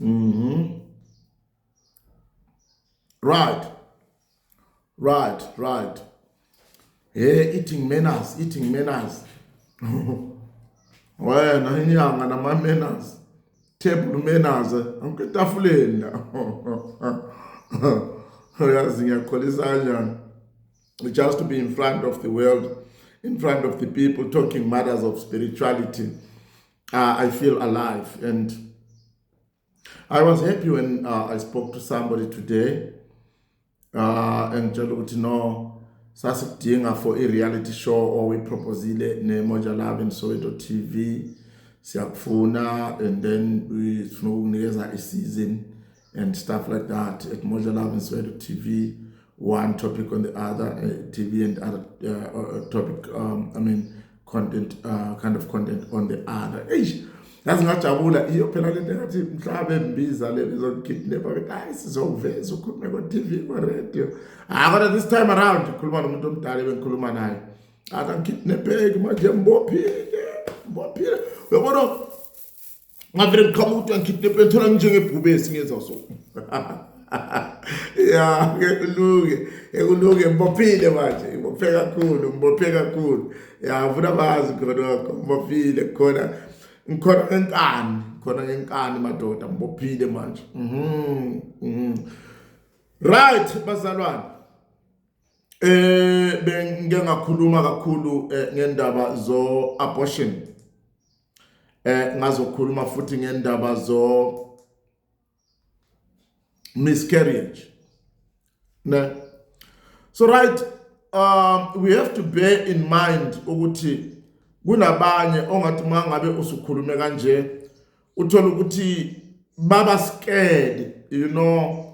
mm -hmm. right right right he eating manners eating manners wena inyanga nama manners table manners anke tafuleni la uyazi ngiyakholisa kanjani just to be in front of the world in front of the people talking matters of spirituality uh, I feel alive. And I was happy when uh, I spoke to somebody today uh, and tell ukuthi no sasikudinga for a reality show or we proposile ne Moja Love and Soweto TV siyakufuna and then sifuna ukunikeza i season and stuff like that at Moja Love and Swedo TV, one topic on the other, uh, TV and other uh, uh, topic, um, I mean, content, uh, kind of content on the other. Eish, yazi ngajabula iyo phela lento engathi mhlawumbe embiza le bezokidnapha ukuthi hayi sizokuveza ukhulume ko-tv ko-radio hayi kodwa this time around ngikhuluma nomuntu omdala ebengikhuluma naye akangikidnapheki manje mbophile mbophile uyabona ngavele ngiqhamuka ukuthi angikhiphe impela ngithola nginjengebhubesi ngenza so ya ngekulunge ngekulunge ngibophile manje ngibophe kakhulu ngibophe kakhulu ya ngifuna bazi khonokho ngibophile khona ngikhona ngenkani khona ngenkani madoda ngibophile manje mhm, mhm. right bazalwane eh bengike ngakhuluma kakhulu eh, ngendaba zo abortion eh ngazokhuluma futhi ngendaba zo miscarriage ne so right um we have to bear in mind ukuthi kunabanye ongathi mangabe usukhulume kanje uthola ukuthi baba scared you know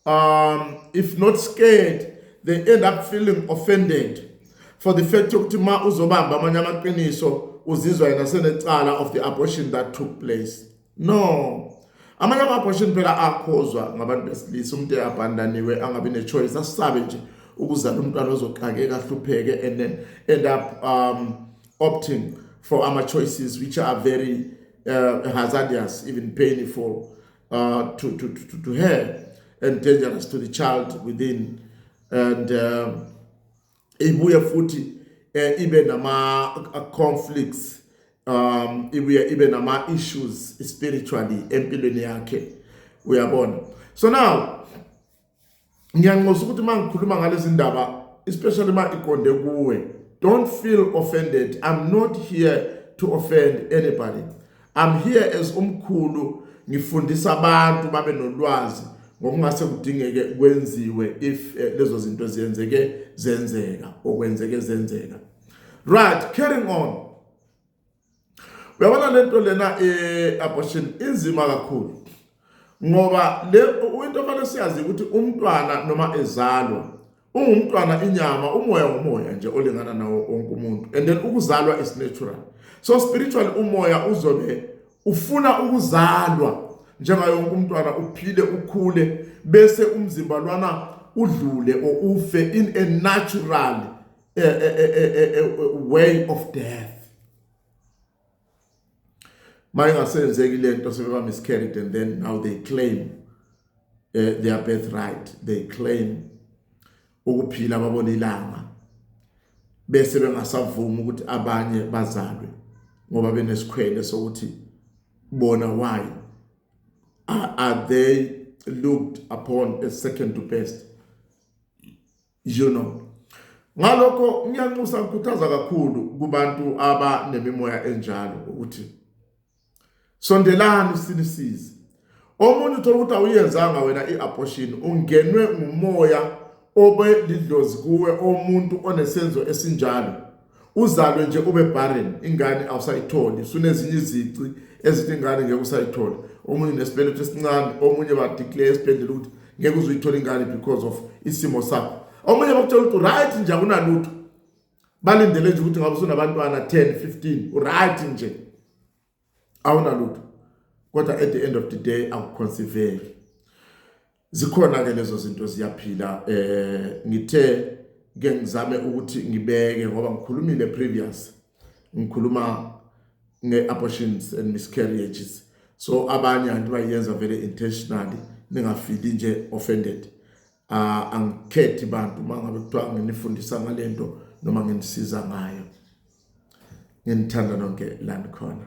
um if not scared they end up feeling offended for the fact yokuthi ma uzobamba amanye amaqiniso uzizwa yena senecala of the abortion that took place no amanye ama-abortion phela akhozwa ngabantu besilisa umuntu eabandaniwe angabi ne-choice asisabe nje ukuzala umntwana ozoxakeka ahlupheke and then end up um, opting for ama-choices which are very uh, hazardous even painful uh, to, to, to, to her and dangerous to the child within and uh, ibuye futhi eh, ibe nama uh, conflicts um ibuye ibe nama issues spiritually empilweni yakhe uyabona so now ngiyanxusa ukuthi uma ngikhuluma ngalezi ndaba especially uma iqonde kuwe don't feel offended i'm not here to offend anybody i'm here as umkhulu ngifundisa abantu babe nolwazi ngokungase kudingeke kwenziwe if eh, lezo zinto ziyenzeke zenzeka okwenzeke zenzeka right carrying on uyabona lento lena i-abortion eh, inzima kakhulu ngoba le into ofanele siyazi ukuthi umntwana noma ezalwa ungumntwana inyama umoya umoya nje olingana nawo wonke umuntu and then ukuzalwa is natural so spiritual umoya uzobe ufuna ukuzalwa njengaye wonke umntwana uphile ukhule bese umzimba lwana udlule or ufe in a natural a, a, a, a way of death mayingasenzeki lento sebeba miscarried and then now they claim uh, their birthright they claim ukuphila babona ilanga bese bengasavuma ukuthi abanye bazalwe ngoba benesikhwele sokuthi bona why are, are they looked upon as second to best you know ngalokho ngiyanxusa ngikhuthaza kakhulu kubantu abanemimoya enjalo ukuthi sondelani sinisize omunye uthola ukuthi awuyenzanga wena i-abortion ungenwe ngumoya obe lidlozi kuwe omuntu onesenzo esinjalo uzalwe nje ube barren ingane awusayitholi sunezinye izici ezithi ingane ngeke usayithola omunye nesibeletho esincane omunye badeclare esibhedlela ukuthi ngeke uzuyithola ingane because of isimo sakho omunye bakutshela ukuthi right nje akunalutho balindele nje ukuthi ngabe sunabantwana 10 15 uright nje awunalutho kodwa at the end of the day akukhonsiveki zikhona ke lezo zinto ziyaphila eh ngithe ke ngizame ukuthi ngibeke ngoba ngikhulumile previous ngikhuluma ngeabortions and miscarriages so abanye anti bayenza vele intentionally ningafili nje offended uh, angikhethi bantu uma ngabe kuthiwa nginifundisa ngale nto noma nginisiza ngayo nginithanda nonke la nikhona